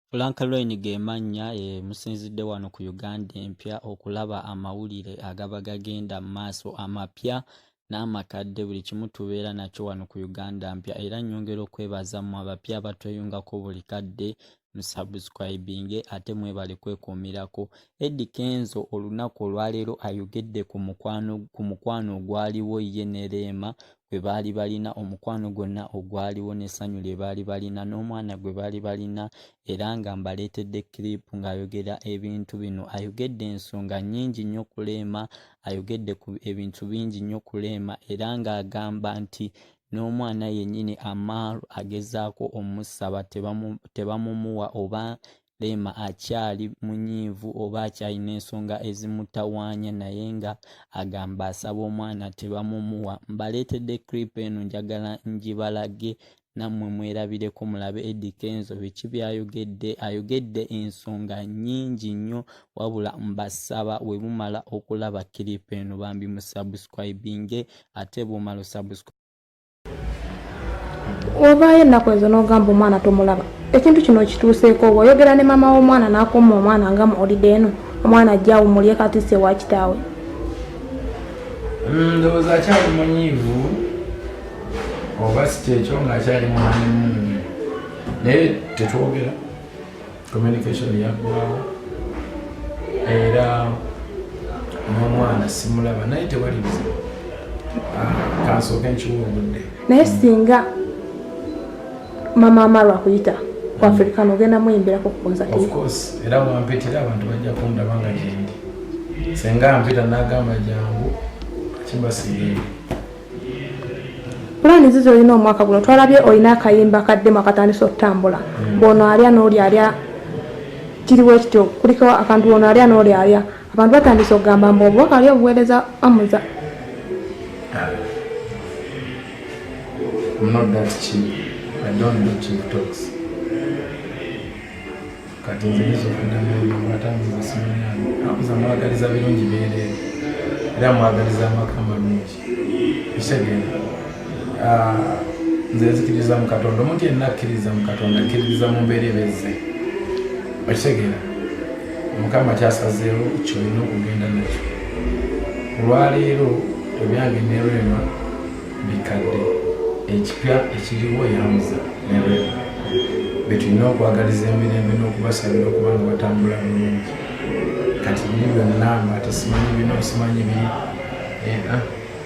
Frank Loin ge mannya e musinzidde wano ku Uganda empya okulaba amawulire agaba gagenda mu maaso amapya n'amakadde buli kimu tubeera nakyo wano ku Uganda mpya era nnyongera okwebaza mu abapya abatweyungako buli kadde musubscribinge ate mwebale kwekuumirako Eddy Kenzo olunaku olwaleero ayogedde ku mukwano ogwaliwo ye ne Rema kwe baali balina omukwano gwonna ogwaliwo n'essanyu lye baali balina n'omwana gwe baali balina era nga mbaleetedde kiripu ng'ayogera ebintu bino ayogedde ensonga nnyingi nnyo okuleema ayogedde ku ebintu bingi nnyo okuleema era ng'agamba nti n'omwana yennyini amaaru agezaako omusaba tebamumuwa oba Rema akyali munyiivu oba akyalina ensonga ezimutawaanya naye nga agamba asaba omwana tebamumuwa. Mbaleetedde clip eno njagala ngibalage nammwe mwerabireko mulabe Eddy Kenzo biki byayogedde. Ayogedde ensonga nnyingi nnyo wabula mbasaba we mumala okulaba clip eno bambi musubscribinge ate bw'omala osubscribe wavaayo ennaku ezo n'ogamba omwana tomulaba ekintu kino okituuseeko oba oyogera ne maama w'omwana n'akoma omwana nga muolide eno omwana ajja awumulye kati se wa kitaawe mm, ndowooza akyali munyiivu oba si kyekyo ng'akyali mwana naye tetwogera communication yaggwawo era n'omwana simulaba naye tewali bizibu ah, kansooka enkiwa obudde naye singa mama amalwa kuyita ku african ogenda muyimbirako kukonsaofcourse era wampitira abantu bajja kundaba nga gyendi senga mpita nagamba jangu kimbasigeeri pulaani zizo olina omwaka guno twalabye olina akayimba kaddemu akatandisa okutambula hmm. bwono alya nooli alya kiriwo ekityo kuliko akantu bwono alya nooli alya abantu batandise okugamba mbu obubaka ali obuweereza amuza I'm not that cheap. I don't do cheap talks. kati nze nyinza okudda mwoyo ate ambuza simunyamu akuza mwagaliza birungi beereere era mwagaliza amaka amalungi ekitegeera ah, nze nzikiriza mu katonda omuntu yenna akkiririza mu katonda akkiririza mu mbeera ebezze okitegeera mukama kyasazeewo kyolina okugenda nakyo olwaleero ebyange nerwema bikadde ekipya ekiriwo yamuza ne rema betulina okwagaliza emirembe n'okubasabira okuba nga batambula bulungi kati biri byonna nga tesimanyi bino simanyi biri eh, ah,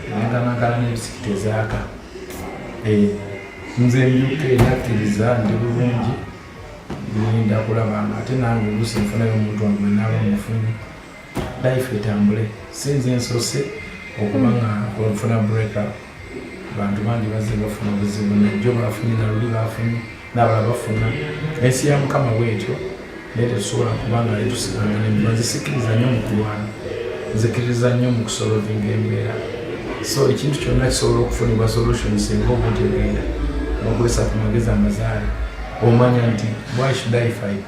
naganagala nebisiki tezaaka eh, nze mbyuka eyakkiriza ndi bulungi ninda kulaba nga ate nange olusi nfunayo omuntu wange naaba mufunyi life etambule sinze ensose okuba nga olufuna breakup bantu bangi bazze bafuna obuzibu najjo bafunye naluli bafunye nabala bafuna ensi ya mukama bwetyo naye tetusobola kuba nga letusigana nebazisikiriza nyo mukulwana nzikiriza nyo mukusolovinga embeera so ekintu kyonna kisobola okufunibwa solution singa obutegenda nokozesa ku magezi amazaale omanya nti why should i fight